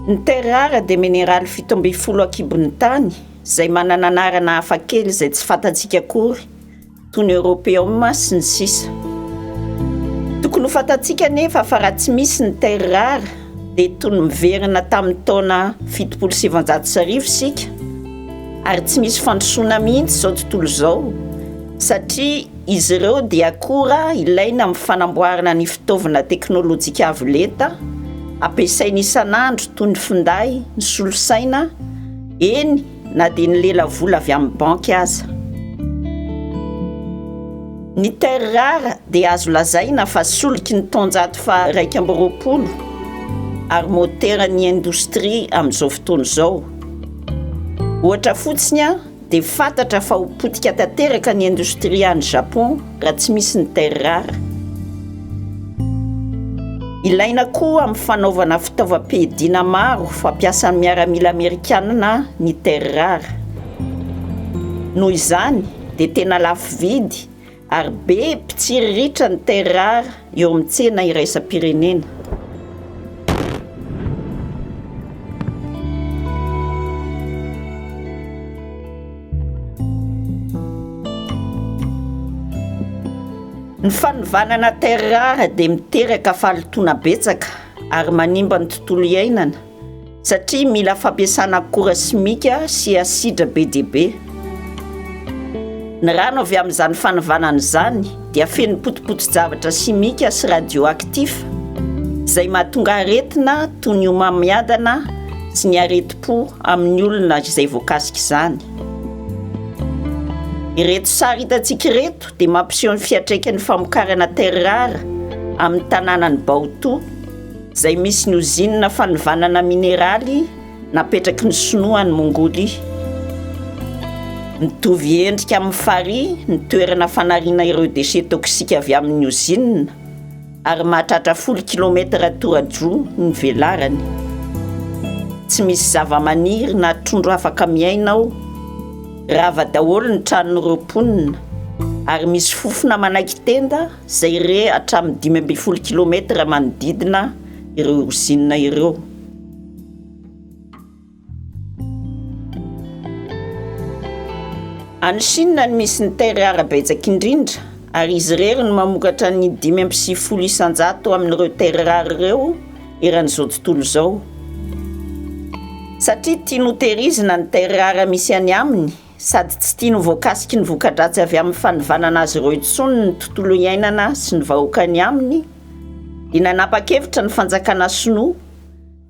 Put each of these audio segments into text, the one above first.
Ny terres rares dia mineraly fito ambin'ny folo an-kibon'ny tany izay manana anarana hafakely izay tsy fantantsika akory. toy ny Europeum sy ny sisa Tokony ho fantatsika anefa fa raha tsy misy ny terres rares dia toy ny miverina tamin'ny taona fitopolo sy sivanjato sy arivo isika ary tsy misy fandrosoana mihitsy izao tontolo izao satria izy ireo dia akora ilaina amin'ny fanamboarana ny fitaovana teknolojika avo lenta ampiasaina isan'andro toy ny finday ny solosaina eny na dia ny lelavola avy amin'ny banky aza. Ny terres rares dia azo lazaina fa soliky ny taonjato faha iraika amby roapolo ary moteran'ny indostria amin'izao fotoana izao. Ohatra fotsiny dia fantatra fa ho potika tanteraka ny indostria any Japon raha tsy misy ny terrar. Ilaina koa amin'ny fanaovana fitaovam-piadiana maro fampiasan'ny miaramila amerikanina ny terrar. Noho izany dia tena lafo vidy ary be mpitsiriritra ny terrar eo amin'ny tsena iraisam-pirenena. Ny fanovanana terre rare dia miteraka fahalotoana betsaka ary manimba ny tontolo iainana. satria mila fampiasana akora simika sy asidra be dia be. Ny rano avy amin'izany fanavanana izany dia feno potipotin-javatra simika sy radioactif izay mahatonga aretina toy ny homamiadana sy ny aretim-po amin'ny olona izay voakasika izany. Ireto sary hitantsika ireto dia mampiseho ny fiantraikan'ny famokarana terre rare amin'ny tanànan'i Baotou izay misy ny ozinina fanovanana mineraly napetraky ny Sinoa any Mongolia. Mitovy endrika amin'ny farihy ny toerana fanariana ireo déchets toxiques avy amin'ny ozinina ary mahatratra folo kilometatra toradroa ny velarany. Tsy misy zavamaniry na trondro afaka miaina ao. Rava daholo ny tranon'ireo mponina ary misy fofona manaiky tenda izay re hatramin'ny dimy ambin'ny folo kilometatra manodidina ireo ozinina ireo. Any Chine no misy ny terre rare betsaka indrindra ary izy irery no mamokatra ny dimy amby sivifolo isan-jato amin'ireo terre rare ireo eran'izao tontolo izao. Satria tiany hotehirizina ny terre rare misy any aminy, sady tsy tiany ho voakasiky ny voka-dratsy avy amin'ny fanivanana azy ireo intsony ny tontolo iainana sy ny vahoaka any aminy, dia nanapa-kevitra ny fanjakana sinoa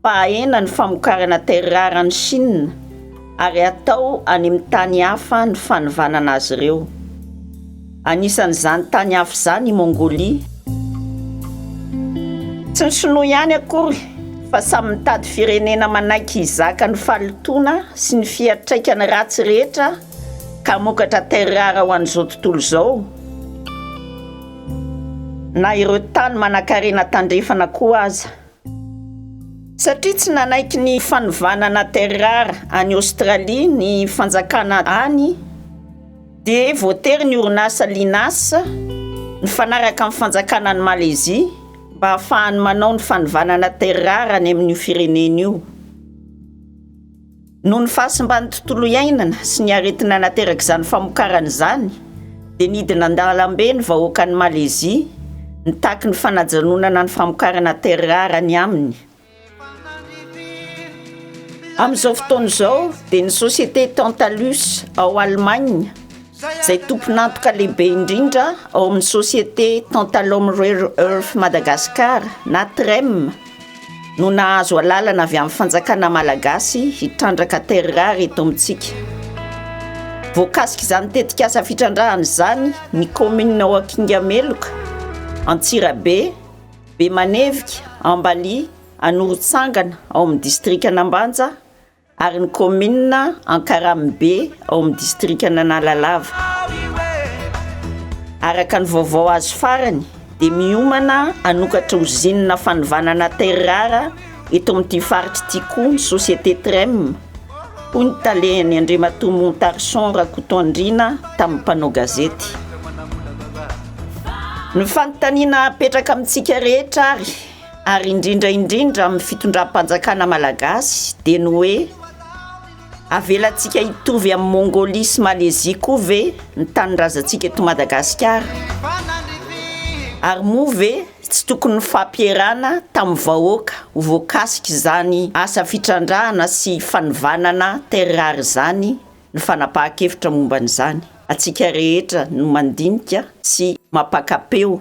fa hahena ny famokarana terrare any Shina ary hatao any amin'ny tany hafa ny fanivanana azy ireo. Anisan'izany tany hafa izany i Mongolia. Tsy ny Shinoa ihany akory fa samy mitady firenena manaiky hizaka ny fahalotoana sy ny fiantraikany ratsy rehetra ka hamokatra terres rares ho an'izao tontolo izao na ireo tany manankarena tandrefana koa aza. Satria tsy nanaiky ny fanovana na terrara any Australie ny fanjakana any dia voatery ny orinasa Linas nifanaraka amin'ny fanjakana any Malaisie mba hahafahany manao ny fanovanana terrara any amin'io firenena io. Noho ny fahasimban'ny tontolo iainana sy ny aretina naterak'izany famokarana izany dia nidina an-dalambe ny vahoakan'i Malezia nitaky ny fanajanonana ny famokarana terres rares any aminy. Amin'izao fotoana izao dia ny société Tantalus ao Allemagne izay tompon'antoka lehibe indrindra ao amin'ny société Tantalum Rare Earth Madagascar na TREM no nahazo alalana avy amin'ny fanjakana malagasy hitrandraka terres rares eto amintsika. Voakasika izany tetikasa fitrandrahana izany ny kaominina ao Akingameloka, Antsirabe, Bemanevika, Ambalia, Anorotsangana ao amin'ny distrikan'Ambanja, ary ny kaominina Ankaramibe ao amin'ny distrikan'Analalava. Araka ny vaovao azo farany dia miomana hanokatra ozinina fanovanana terre rare eto amin'ity faritra ity koa ny société Trem, hoy ny talehany Andriamatoa Montarson Rakotoandriana tamin'ny mpanao gazety. Ny fanontaniana apetraka amintsika rehetra ary ary indrindra indrindra amin'ny fitondram-panjakana malagasy dia ny hoe avelantsika hitovy amin'i Mongolia sy Malezia koa ve ny tanindrazantsika eto Madagasikara? Ary moa ve tsy tokony nifampierana tamin'ny vahoaka ho voakasika izany asa fitrandrahana sy fanivanana terres rares izany ny fanapahan-kevitra momba an'izany? Antsika rehetra no mandinika sy mampaka-peo